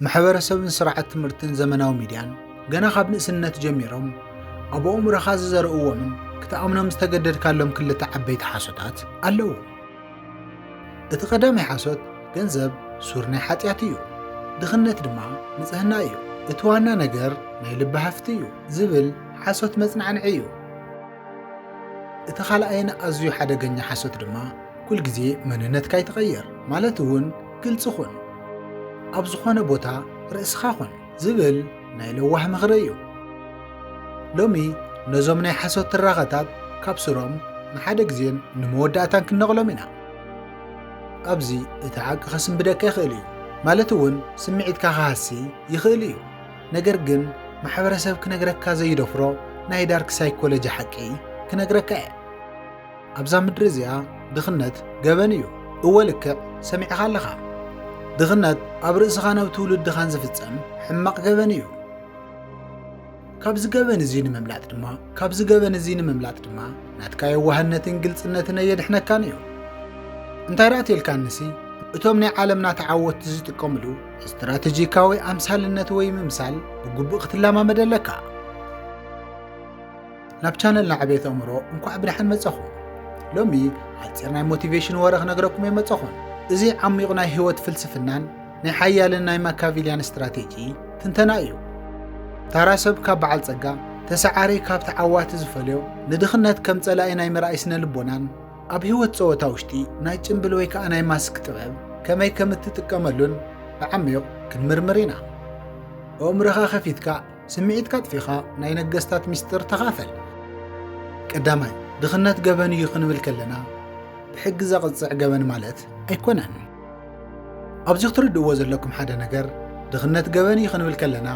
ማሕበረሰብን ስርዓት ትምህርትን ዘመናዊ ሚድያን ገና ካብ ንእስነት ጀሚሮም ኣብ ኣእምሮኻ ዝዘርእዎምን ክትኣምኖም ዝተገደድካሎም ክልተ ዓበይቲ ሓሶታት ኣለዉ። እቲ ቀዳማይ ሓሶት ገንዘብ ሱር ናይ ሓጢኣት እዩ፣ ድኽነት ድማ ንጽህና እዩ፣ እቲ ዋና ነገር ናይ ልቢ ሃፍቲ እዩ ዝብል ሓሶት መጽናዕንዒ እዩ። እቲ ካልኣይን ኣዝዩ ሓደገኛ ሓሶት ድማ ኩልግዜ መንነትካ ይትቐየር ማለት እውን ግልፂ ኹን፣ ኣብ ዝኾነ ቦታ ርእስኻ ኹን ዝብል ናይ ለዋህ ምኽሪ እዩ። ሎሚ ነዞም ናይ ሓሶት ትራኸታት ካብ ሱሮም ንሓደ ግዜን ንመወዳእታን ክንነቕሎም ኢና። ኣብዚ እቲ ሓቂ ከስንብደካ ይኽእል እዩ፣ ማለት እውን ስምዒትካ ክሃሲ ይኽእል እዩ፣ ነገር ግን ማሕበረሰብ ክነግረካ ዘይደፍሮ ናይ ዳርክ ሳይኮሎጂ ሓቂ ክነግረካ እየ። ኣብዛ ምድሪ እዚኣ ድኽነት ገበን እዩ። እወ ልክዕ ሰሚዕኻ ኣለኻ። ድኽነት ኣብ ርእስኻን ኣብ ትውልድኻን ዝፍጸም ሕማቕ ገበን እዩ። ካብዚ ገበን እዚ ንምምላጥ ድማ ካብዚ ገበን እዚ ንምምላጥ ድማ ናትካ የዋህነትን ግልጽነትን ኣየድሕነካን እዩ እንታይ ደኣ ተልካንሲ እቶም ናይ ዓለምና ተዓወትቲ ዝጥቀምሉ ስትራቴጂካዊ ኣምሳልነት ወይ ምምሳል ብግቡእ ክትለማመድ ኣለካ ናብ ቻነልና ዕቤት ኣእምሮ እንኳዕ ብደሓን መጻኹም። ሎሚ ሓጺር ናይ ሞቲቬሽን ወረ ክነግረኩም እየ መጻኹም። እዚ ዓሚቝ ናይ ህይወት ፍልስፍናን ናይ ሓያልን ናይ ማካቪልያን ስትራቴጂ ትንተና እዩ። ታራ ሰብ ካብ በዓል ጸጋ ተሰዓሪ ካብ ተዓዋቲ ዝፈልዮ ንድኽነት ከም ጸላኢ ናይ ምርኣይ ስነ ልቦናን ኣብ ህይወት ጸወታ ውሽጢ ናይ ጭምብል ወይ ከዓ ናይ ማስክ ጥበብ ከመይ ከም እትጥቀመሉን ብዓሚቕ ክንምርምር ኢና። ኣእምሮኻ ከፊትካ ስምዒትካ ኣጥፊእኻ ናይ ነገስታት ምስጢር ተኻፈል። ቀዳማይ፣ ድኽነት ገበን እዩ ክንብል ከለና ብሕጊ ዘቕጽዕ ገበን ማለት ኣይኮነን። ኣብዚ ክትርድእዎ ዘለኩም ሓደ ነገር፣ ድኽነት ገበን እዩ ክንብል ከለና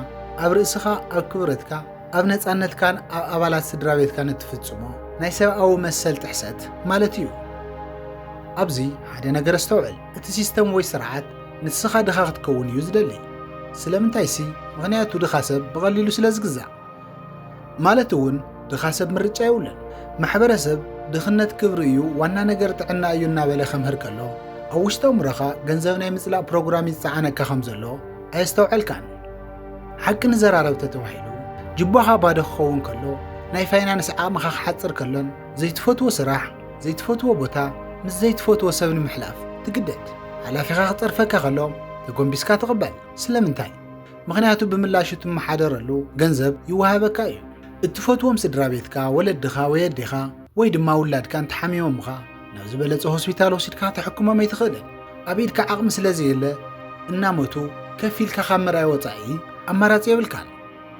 ኣብ ርእስኻ፣ ኣብ ክብረትካ፣ ኣብ ነጻነትካን ኣብ ኣባላት ስድራ ቤትካን እትፍጽሞ ናይ ሰብኣዊ መሰል ጥሕሰት ማለት እዩ። ኣብዚ ሓደ ነገር ኣስተውዕል፣ እቲ ሲስተም ወይ ስርዓት ንስኻ ድኻ ክትከውን እዩ ዝደሊ። ስለምንታይሲ ምኽንያቱ ድኻ ሰብ ብቐሊሉ ስለ ዝግዛእ። ማለት እውን ድኻ ሰብ ምርጫ የብሉን። ማሕበረሰብ ድኽነት ክብሪ እዩ፣ ዋና ነገር ጥዕና እዩ እናበለ ከምህር ከሎ ኣብ ውሽጢ ኣእምሮኻ ገንዘብ ናይ ምጽላእ ፕሮግራም እዩ ዝጸዓነካ ከም ዘሎ ኣየስተውዐልካን። ሓቂ ንዘራረብ ተተባሂሉ ጅባኻ ባዶ ክኸውን ከሎ፣ ናይ ፋይናንስ ዓቕምኻ ክሓጽር ከሎን ዘይትፈትዎ ስራሕ፣ ዘይትፈትዎ ቦታ ምስ ዘይትፈትዎ ሰብ ንምሕላፍ ትግደድ። ሓላፊኻ ክጸርፈካ ከሎ ተጎንቢስካ ትቕበል። ስለምንታይ? ምኽንያቱ ብምላሹ እትመሓደረሉ ገንዘብ ይወሃበካ እዩ። እትፈትዎም ስድራ ቤትካ፣ ወለድኻ ወይ ኣዴኻ ወይ ድማ ውላድካ እንተሓሚሞምኻ ናብ ዝበለጸ ሆስፒታል ወሲድካ ተሕክሞም ኣይትኽእልን። ኣብ ኢድካ ዓቕሚ ስለዘየለ እናሞቱ ከፊልካ ካብ ምርኣይ ወጻኢ ኣማራጺ የብልካን።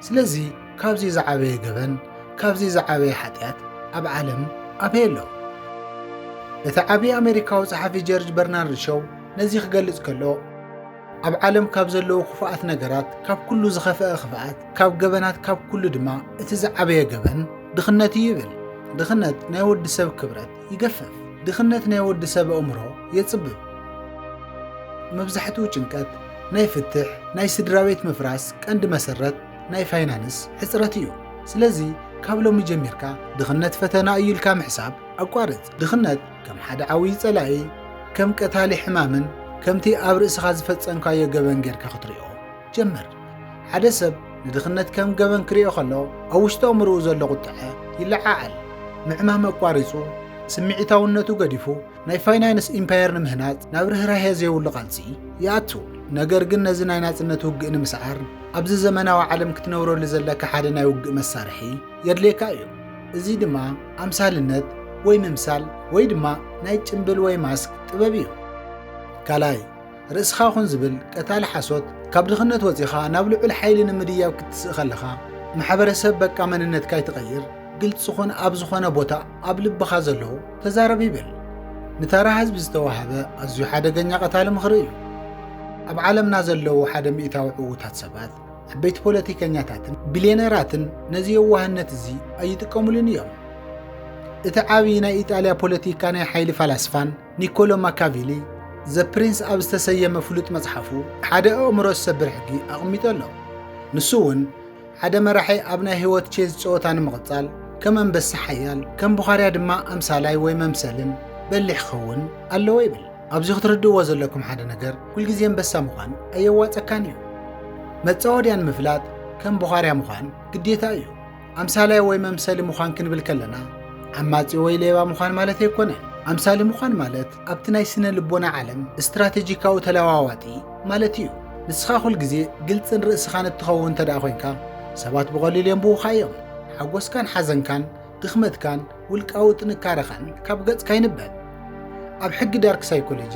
ስለዚ ካብዚ ዝዓበየ ገበን ካብዚ ዝዓበየ ሓጢኣት ኣብ ዓለም ኣበይ ኣሎ? እቲ ዓቢ ኣመሪካዊ ጸሓፊ ጀርጅ በርናርድ ሾው ነዚ ክገልጽ ከሎ ኣብ ዓለም ካብ ዘለዉ ክፉኣት ነገራት ካብ ኩሉ ዝኸፍአ ክፍኣት ካብ ገበናት ካብ ኩሉ ድማ እቲ ዝዓበየ ገበን ድኽነት እዩ ይብል። ድኽነት ናይ ወዲ ሰብ ክብረት ይገፈፍ። ድኽነት ናይ ወዲ ሰብ ኣእምሮ የጽብብ። መብዛሕትኡ ጭንቀት ናይ ፍትሕ፣ ናይ ስድራቤት ምፍራስ ቀንዲ መሰረት ናይ ፋይናንስ ሕጽረት እዩ። ስለዚ ካብ ሎሚ ጀሚርካ ድኽነት ፈተና እዩ ኢልካ ምሕሳብ ኣቋርጽ። ድኽነት ከም ሓደ ዓብዪ ጸላኢ፣ ከም ቀታሊ ሕማምን ከምቲ ኣብ ርእስኻ ዝፈጸምካዮ ገበን ጌርካ ክትሪኦ ጀመር። ሓደ ሰብ ንድኽነት ከም ገበን ክርእዮ ከሎ ኣብ ውሽጢ ኣእምሮኡ ዘሎ ቁጥዐ ይለዓዓል። ምዕማም ኣቋሪጹ፣ ስምዒታውነቱ ገዲፉ ናይ ፋይናንስ ኢምፓየር ንምህናጽ ናብ ርህራሄ ዘይብሉ ቃልሲ ይኣቱ። ነገር ግን ነዚ ናይ ናጽነት ውግእ ንምስዓር ኣብዚ ዘመናዊ ዓለም ክትነብረሉ ዘለካ ሓደ ናይ ውግእ መሳርሒ የድልየካ እዩ። እዚ ድማ ኣምሳልነት ወይ ምምሳል ወይ ድማ ናይ ጭምብል ወይ ማስክ ጥበብ እዩ። ካልኣይ፣ ርእስኻ ኹን ዝብል ቀታሊ ሓሶት፣ ካብ ድኽነት ወጺኻ ናብ ልዑል ሓይሊ ንምድያብ ክትስእ ከለኻ፣ ማሕበረሰብ በቃ መንነትካ ኣይትቐይር፣ ግልጺ ኹን ኣብ ዝኾነ ቦታ ኣብ ልብኻ ዘሎ ተዛረብ ይብል። ንተራ ህዝቢ ዝተዋህበ ኣዝዩ ሓደገኛ ቀታሊ ምኽሪ እዩ። ኣብ ዓለምና ዘለዉ ሓደ ሚእታዊ ዕዉታት ሰባት፣ ዓበይቲ ፖለቲከኛታትን ቢልየነራትን ነዚ የዋህነት እዚ ኣይጥቀሙሉን እዮም። እቲ ዓቢ ናይ ኢጣልያ ፖለቲካ ናይ ሓይሊ ፈላስፋን ኒኮሎ ማካቪሊ ዘ ፕሪንስ ኣብ ዝተሰየመ ፍሉጥ መጽሓፉ ሓደ ኣእምሮ ዝሰብር ሕጊ ኣቕሚጡ ኣሎ። ንሱ እውን ሓደ መራሒ ኣብ ናይ ህይወት ቼዝ ጸወታ ንምቕጻል ከም ኣንበሳ ሓያል፣ ከም ቡኻርያ ድማ ኣምሳላይ ወይ መምሰልን በሊሕ ክኸውን ኣለዎ ይብል። ኣብዚ ክትርድእዎ ዘለኩም ሓደ ነገር ኩልግዜ ኣንበሳ ምዃን ኣየዋጸካን እዩ። መጻወድያ ንምፍላጥ ከም ቡኻርያ ምዃን ግዴታ እዩ። ኣምሳላይ ወይ መምሰሊ ምዃን ክንብል ከለና ዓማጺ ወይ ሌባ ምዃን ማለት ኣይኮነን። ኣምሳሊ ምዃን ማለት ኣብቲ ናይ ስነ ልቦና ዓለም ስትራቴጂካዊ ተለዋዋጢ ማለት እዩ። ንስኻ ኩል ግዜ ግልጽን ርእስኻን እትኸውን እንተ ደኣ ኮንካ ሰባት ብቐሊሉ የንብቡኻ እዮም። ሓጎስካን ሓዘንካን፣ ድኽመትካን ውልቃዊ ጥንካረኻን ካብ ገጽካ ይንበብ። ኣብ ሕጊ ዳርክ ሳይኮሎጂ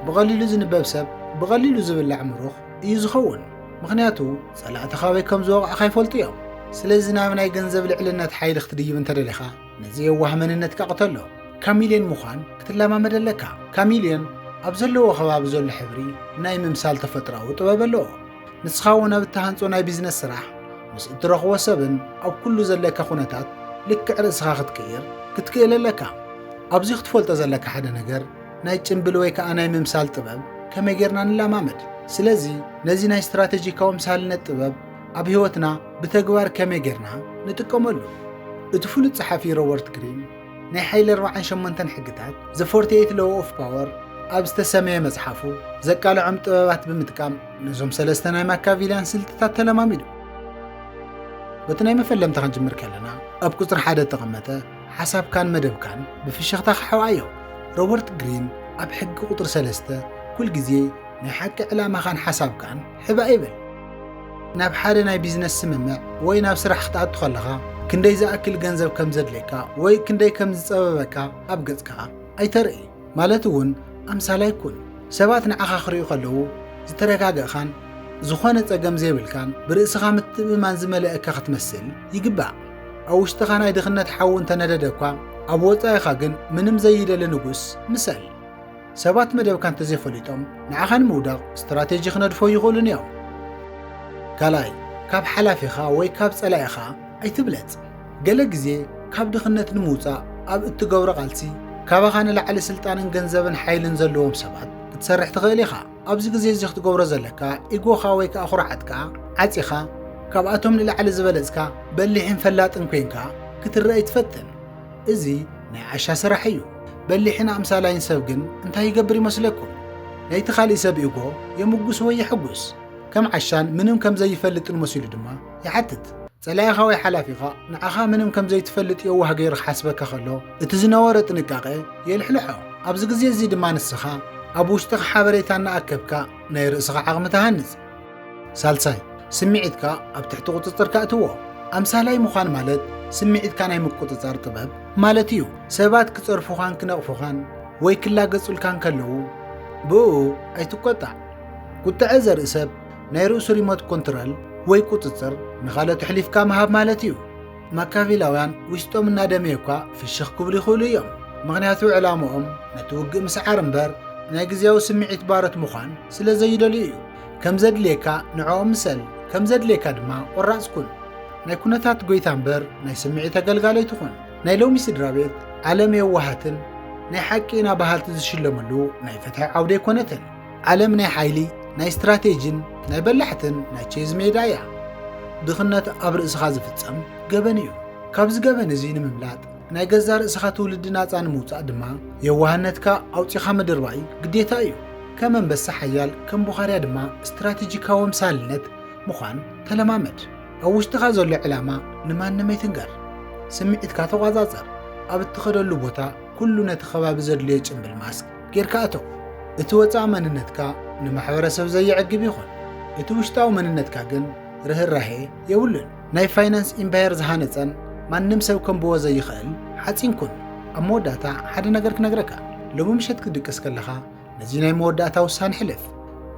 ብቐሊሉ ዝንበብ ሰብ ብቐሊሉ ዝብላዕ ምሩኽ እዩ ዝኸውን። ምኽንያቱ ጸላእቲ ካበይ ከም ዝወቕዕኻ ይፈልጡ እዮም። ስለዚ ናብ ናይ ገንዘብ ልዕልነት ሓይሊ ክትድይብ እንተደሊኻ ነዚ የዋህ መንነትካ ቅተሎ። ካሚልዮን ምዃን ክትለማመድ ኣለካ። ካሚልዮን ኣብ ዘለዎ ከባቢ ዘሎ ሕብሪ ናይ ምምሳል ተፈጥሮኣዊ ጥበብ ኣለዎ። ንስኻ እውን ኣብ እትሃንጾ ናይ ቢዝነስ ስራሕ ምስ እትረኽቦ ሰብን ኣብ ኩሉ ዘለካ ኩነታት ልክዕ ርእስኻ ክትቅይር ክትክእል ኣለካ። ኣብዚ ክትፈልጦ ዘለካ ሓደ ነገር ናይ ጭምብል ወይ ከኣ ናይ ምምሳል ጥበብ ከመይ ጌርና ንለማመድ? ስለዚ ነዚ ናይ ስትራተጂካዊ ምሳልነት ጥበብ ኣብ ህይወትና ብተግባር ከመይ ጌርና ንጥቀመሉ? እቲ ፍሉጥ ጸሓፊ ሮበርት ግሪን ናይ ሓይሊ ኣርብዓን ሸሞንተን ሕግታት The 48 Law of Power ኣብ ዝተሰመየ መጽሓፉ ዘቃልዖም ጥበባት ብምጥቃም ነዞም ሰለስተ ናይ ማካቪልያን ስልትታት ተለማሚዱ። በቲ ናይ መፈለምታ ክንጅምር ከለና ኣብ ቁጽሪ ሓደ እተቐመጠ ሓሳብካን መደብካን ብፍሽኽታ ክሓውኣዮ። ሮበርት ግሪን ኣብ ሕጊ ቁጽሪ ሰለስተ ኩል ግዜ ናይ ሓቂ ዕላማኻን ሓሳብካን ሕብእ ኣይበል። ናብ ሓደ ናይ ቢዝነስ ስምምዕ ወይ ናብ ስራሕ ክትኣቱ ከለኻ ክንደይ ዝኣክል ገንዘብ ከም ዘድልየካ ወይ ክንደይ ከም ዝጸበበካ ኣብ ገጽካ ኣይተርኢ። ማለት እውን ኣምሳላይ ኩን። ሰባት ንዓኻ ክርእዩ ከለዉ ዝተረጋገእኻን ዝኾነ ጸገም ዘይብልካን ብርእስኻ ምትእምማን ዝመለአካ ክትመስል ይግባእ። ኣብ ውሽጥኻ ናይ ድኽነት ሓዊ እንተነደደ እኳ ኣብ ወጻኢኻ ግን ምንም ዘይደሊ ንጉስ ምሰል። ሰባት መደብካ እንተዘይፈሊጦም ንዓኻ ንምውዳቕ ስትራቴጂ ክነድፎ ይኽእሉን እዮም። ካልኣይ ካብ ሓላፊኻ ወይ ካብ ጸላኢኻ ኣይትብለጽ። ገለ ግዜ ካብ ድኽነት ንምውጻእ ኣብ እትገብሮ ቃልሲ ካባኻ ንላዕሊ ስልጣንን ገንዘብን ሓይልን ዘለዎም ሰባት ክትሰርሕ ትኽእል ኢኻ። ኣብዚ ግዜ እዚ ክትገብሮ ዘለካ ኢጎኻ ወይ ከኣ ኩርዓትካ ዓጺኻ ካብኣቶም ንላዕሊ ዝበለጽካ በሊሕን ፈላጥን ኮንካ ክትረኣ ኣይትፈትን። እዚ ናይ ዓሻ ስራሕ እዩ። በሊሕን ኣምሳላይን ሰብ ግን እንታይ ይገብር ይመስለኩም? ናይቲ ካልእ ሰብ ኢጎ የምጉስ ወይ የሕጉስ። ከም ዓሻን ምንም ከም ዘይፈልጥን መሲሉ ድማ ይሓትት። ጸላኢኻ ወይ ሓላፊኻ ንዓኻ ምንም ከም ዘይትፈልጥ የዋህ ገይሩ ክሓስበካ ከሎ እቲ ዝነበሮ ጥንቃቐ የልሕልሖ። ኣብዚ ግዜ እዚ ድማ ንስኻ ኣብ ውሽጥኻ ሓበሬታ እናኣከብካ ናይ ርእስኻ ዓቕሚ ትሃንጽ። ሳልሳይ፣ ስምዒትካ ኣብ ትሕቲ ቁጽጽርካ እትዎ። ኣምሳላይ ምዃን ማለት ስምዒትካ ናይ ምቁጽጻር ጥበብ ማለት እዩ። ሰባት ክጸርፉኻን ክነቕፉኻን ወይ ክላገጹልካን ከለዉ ብእኡ ኣይትቈጣዕ። ቁጥዐ ዘርኢ ሰብ ናይ ርእሱ ሪሞት ኮንትረል ወይ ቁጽጽር ንኻልኦት ኣሕሊፍካ ምሃብ ማለት እዩ። ማካቪላውያን ውሽጦም እናደመየ እኳ ፍሽኽ ክብሉ ይኽእሉ እዮም፣ ምኽንያቱ ዕላምኦም ነቲ ውግእ ምስዓር እምበር ናይ ግዝያዊ ስምዒት ባሮት ምዃን ስለ ዘይደልዩ እዩ። ከም ዘድልየካ ንዕኦም ምሰል፣ ከም ዘድልየካ ድማ ቆራጽ ኩን። ናይ ኩነታት ጎይታ እምበር ናይ ስምዒት ኣገልጋሊ ኣይትኹን። ናይ ሎሚ ስድራቤት ዓለም የዋሃትን ናይ ሓቂ ኢና በሃልቲ ዝሽለምሉ ናይ ፍትሒ ዓውዲ ኣይኮነትን። ዓለም ናይ ሓይሊ፣ ናይ ስትራቴጂን ናይ በላሕትን ናይ ቼዝ ሜዳ እያ። ድኽነት ኣብ ርእስኻ ዝፍጸም ገበን እዩ። ካብዚ ገበን እዚ ንምምላጥ ናይ ገዛ ርእስኻ ትውልዲ ናጻ ንምውጻእ ድማ የዋህነትካ ኣውጺኻ ምድርባይ ግዴታ እዩ። ከም ኣንበሳ ሓያል ከም ቡኻርያ ድማ ስትራቴጂካዊ ኣምሳልነት ምዃን ተለማመድ። ኣብ ውሽጥኻ ዘሎ ዕላማ ንማንም ኣይትንገር። ስምዒትካ ተቋጻጸር። ኣብ እትኸደሉ ቦታ ኩሉ ነቲ ከባቢ ዘድልዮ ጭምብል ማስክ ጌርካ እቶ። እቲ ወጻኢ መንነትካ ንማሕበረሰብ ዘየዕግብ ይኹን፣ እቲ ውሽጣዊ መንነትካ ግን ርህራሄ የብሉን። ናይ ፋይናንስ ኢምፓየር ዝሃነጸን ማንም ሰብ ከንብቦ ዘይኸእል ሓጺን ኩን። ኣብ መወዳእታ ሓደ ነገር ክነግረካ፣ ሎሚ ምሸት ክትድቅስ ከለኻ ነዚ ናይ መወዳእታ ውሳነ ሕልፍ።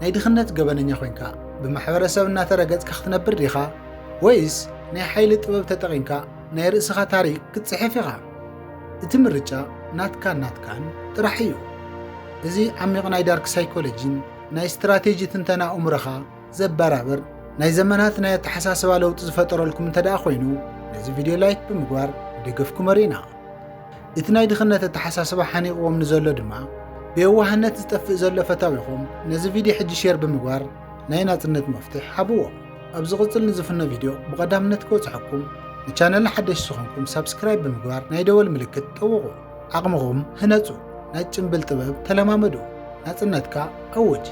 ናይ ድኽነት ገበነኛ ኮይንካ ብማሕበረሰብ እናተረገጽካ ክትነብር ዲኻ ወይስ ናይ ሓይሊ ጥበብ ተጠቒምካ ናይ ርእስኻ ታሪኽ ክትጽሕፍ ኢኻ? እቲ ምርጫ ናትካን ናትካን ጥራሕ እዩ። እዚ ዓሚቕ ናይ ዳርክ ሳይኮሎጂን ናይ ስትራቴጂ ትንተና ኣእምሮኻ ዘበራብር ናይ ዘመናት ናይ ኣተሓሳስባ ለውጢ ዝፈጠረልኩም እንተደኣ ኮይኑ ነዚ ቪድዮ ላይክ ብምግባር ደገፍኩም ኣርእና። እቲ ናይ ድኽነት ኣተሓሳስባ ሓኒቕዎም ንዘሎ ድማ ብየዋህነት ዝጠፍእ ዘሎ ፈታዊኹም ነዚ ቪድዮ ሕጂ ሼር ብምግባር ናይ ናጽነት መፍትሕ ሃብዎም። ኣብ ዝቕጽል ንዝፍኖ ቪድዮ ብቐዳምነት ክበጽሐኩም ንቻነልና ሓደሽ ዝኾንኩም ሳብስክራይብ ብምግባር ናይ ደወል ምልክት ጠውቑ። ዓቕምኹም ህነጹ፣ ናይ ጭምብል ጥበብ ተለማመዱ፣ ናጽነትካ ኣውጅ።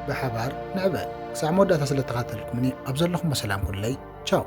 ብሓባር ንዕበ። ክሳዕ መወዳእታ ስለተኻተልኩምኒ ኣብ ዘለኹሞ ሰላም ኩንለይ። ቻው።